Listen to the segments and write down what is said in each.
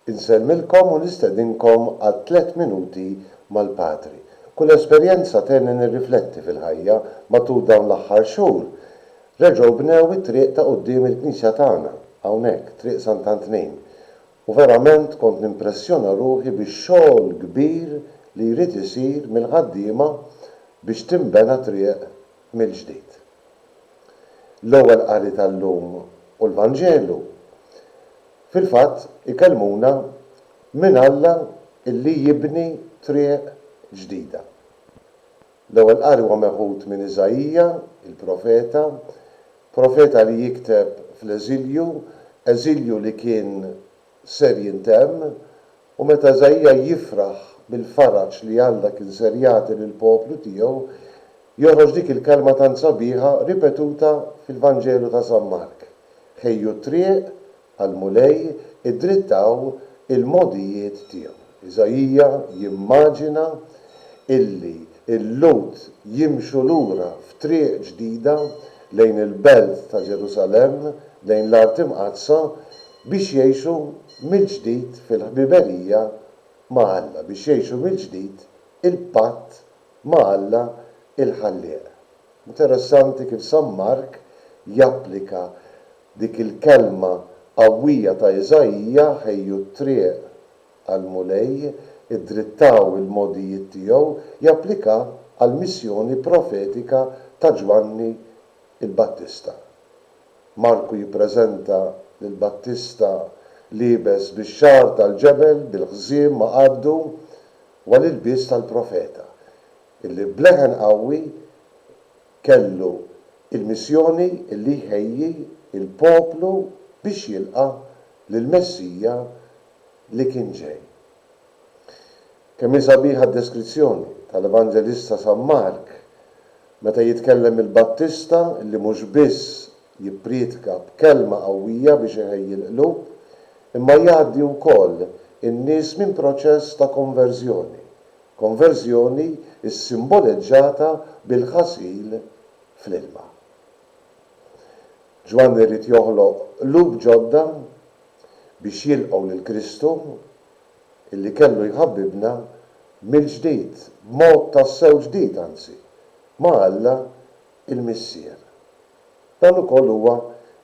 Insellmilkom u nistedinkom għal tliet minuti mal-Patri. Kull esperjenza tgħinni nirrifletti fil-ħajja. Matul dawn l-aħħar xhur, reġgħu bnew it-triq ta' quddiem il-knisja tagħna, hawnhekk, Triq Sant'Antnejn, u verament kont nimpressjona ruħi bix-xogħol kbir li jrid isir mill-ħaddiema biex tinbena triq mill-ġdid. L-ewwel qari tal-lum u l-Vanġelu fil-fatt ikellmuna minn Alla li jibni triq ġdida. L-ewwel qari huwa meħud minn Iżaija, il-profeta, profeta li jikteb fl-eżilju, eżilju li kien ser jintemm, u meta Iżaija jifraħ bil-faraġ li Alla kien ser jagħti lill-poplu tiegħu, joħroġ dik il-kelma tant sabiħa ripetuta fil-Vanġelu ta' San Mark, Ħejju t-triq għall-Mulej, iddrittaw il-mogħdijiet tiegħu. Iżaija jimmaġina illi l-Lhud jimxu lura f'triq ġdida lejn il-belt ta' Ġerusalemm, lejn l-Art Imqaddsa, biex jgħixu mill-ġdid fil-ħbiberija ma' Alla, biex jgħixu mill-ġdid il-patt ma' Alla l-Ħallieq. Interessanti kif San Mark japplika dik il-kelma qawwija ta' Iżaija, ħejju t-triq għall-Mulej, iddrittaw il-mogħdijiet tiegħu, japplika għall-missjoni profetika ta' Ġwanni l-Battista. Marku jippreżenta lil Battista liebes bix-xagħar tal-ġebel, bil-ħżiem ma' qaddu, u għall-ilbies tal-profeta, illi b'leħen qawwi kellu l-missjoni illi jħejji l-poplu biex jilqa' lill-Messija li kien ġej. Kemm hi sabiħa d-deskrizzjoni tal-Evanġelista San Mark Meta jitkellem il-Battista, li mhux biss jipprietka b'kelma qawwija biex iħejji l-qlub, imma jgħaddi wkoll in-nies minn proċess ta' konverżjoni, konverżjoni ssimboleġġata bil-ħasil fl-ilma. Ġwanni ried joħloq qlub ġodda biex jilqgħu lil Kristu illi kellu jħabbibna mill-ġdid, b'mod tassew ġdid anzi, ma' Alla l-Missier. Dan ukoll huwa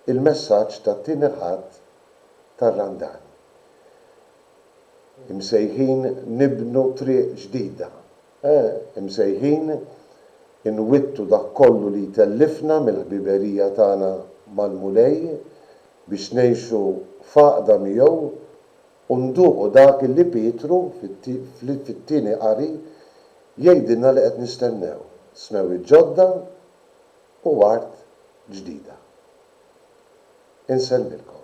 l-messaġġ tat-Tieni Ħadd tar-Randan. Imsejħin nibnu triq ġdida. Imsejħin inwittu dak kollu li jtellifna mill-ħbiberija tagħna mal-Mulej biex ngħixu f'għaqda miegħu U nduqu dak li Pietru, fit-Tieni Qari, jgħidilna li qed nistennew, smewwiet ġodda u art ġdida. Insellmilkom.